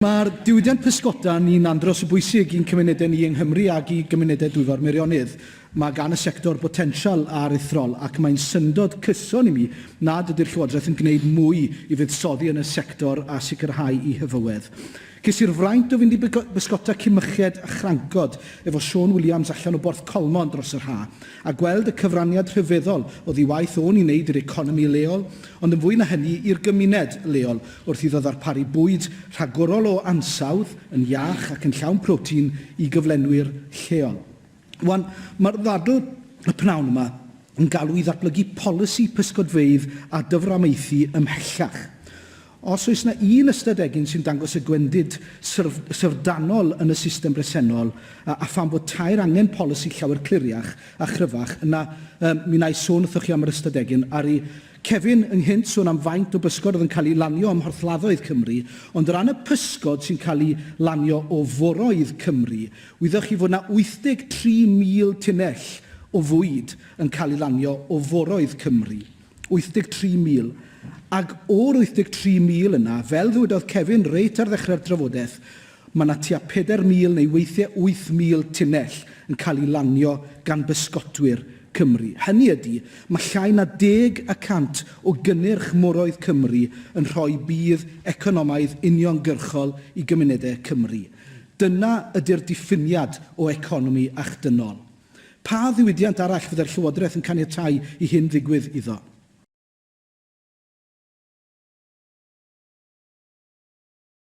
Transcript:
Mae'r diwydiant pysgota ni'n andros o bwysig i'n cymunedau ni yng Nghymru ac i gymunedau Dwyfor Meirionnydd. Mae gan y sector botensial aruthrol ac mae'n syndod cyson i mi nad ydy'r Llywodraeth yn gwneud mwy i fuddsoddi yn y sector a sicrhau ei hyfywedd. Ces i'r fraint o fynd i bysgota Cimyched a Chrancod efo Siôn Williams allan o Borth Colmon dros yr ha'. a gweld y cyfraniad rhyfeddol oddi i waith o'n i'n wneud i'r economi leol, ond yn fwy na hynny, i'r gymuned leol, wrth iddo ddarparu bwyd rhagorol o ansawdd, yn iach ac yn llawn protein i gyflenwyr lleol. Wan, mae'r ddadl y p'nawn yma yn galw i ddatblygu polisi pysgodfeydd a dyframaethu ymhellach. Os oes na un ystad egin sy'n dangos y gwendid syr, syfrdanol yn y system bresennol, a, a phan fod taer angen polisi llawer cliriach a chryfach, yna, yym, mi wna i sôn wrthoch chi am yr ystad egin, aru Kevin ynghynt sôn am faint o bysgod oedd yn cael ei lanio ym mhorthladdoedd Cymru, ond o ran y pysgod sy'n cael eu lanio o foroedd Cymru, wyddoch chi fod na 83,000 tunnell o fwyd yn cael ei lanio o foroedd Cymru. 83,000, ac o'r 83,000 yna, fel ddywedodd Kevin reit ar ddechrau'r drafodaeth, mae 'na tua 4,000 neu weithiau 8,000 tunnell yn cael eu lanio gan bysgotwyr Cymru. Hynny ydi, mae llai na deg y cant o gynnyrch moroedd Cymru yn rhoi budd economaidd uniongyrchol i gymunedau Cymru. Dyna ydi'r diffiniad o economi achdynol. Pa ddiwydiant arall fyddai'r Llywodraeth yn caniatáu i hyn ddigwydd iddo?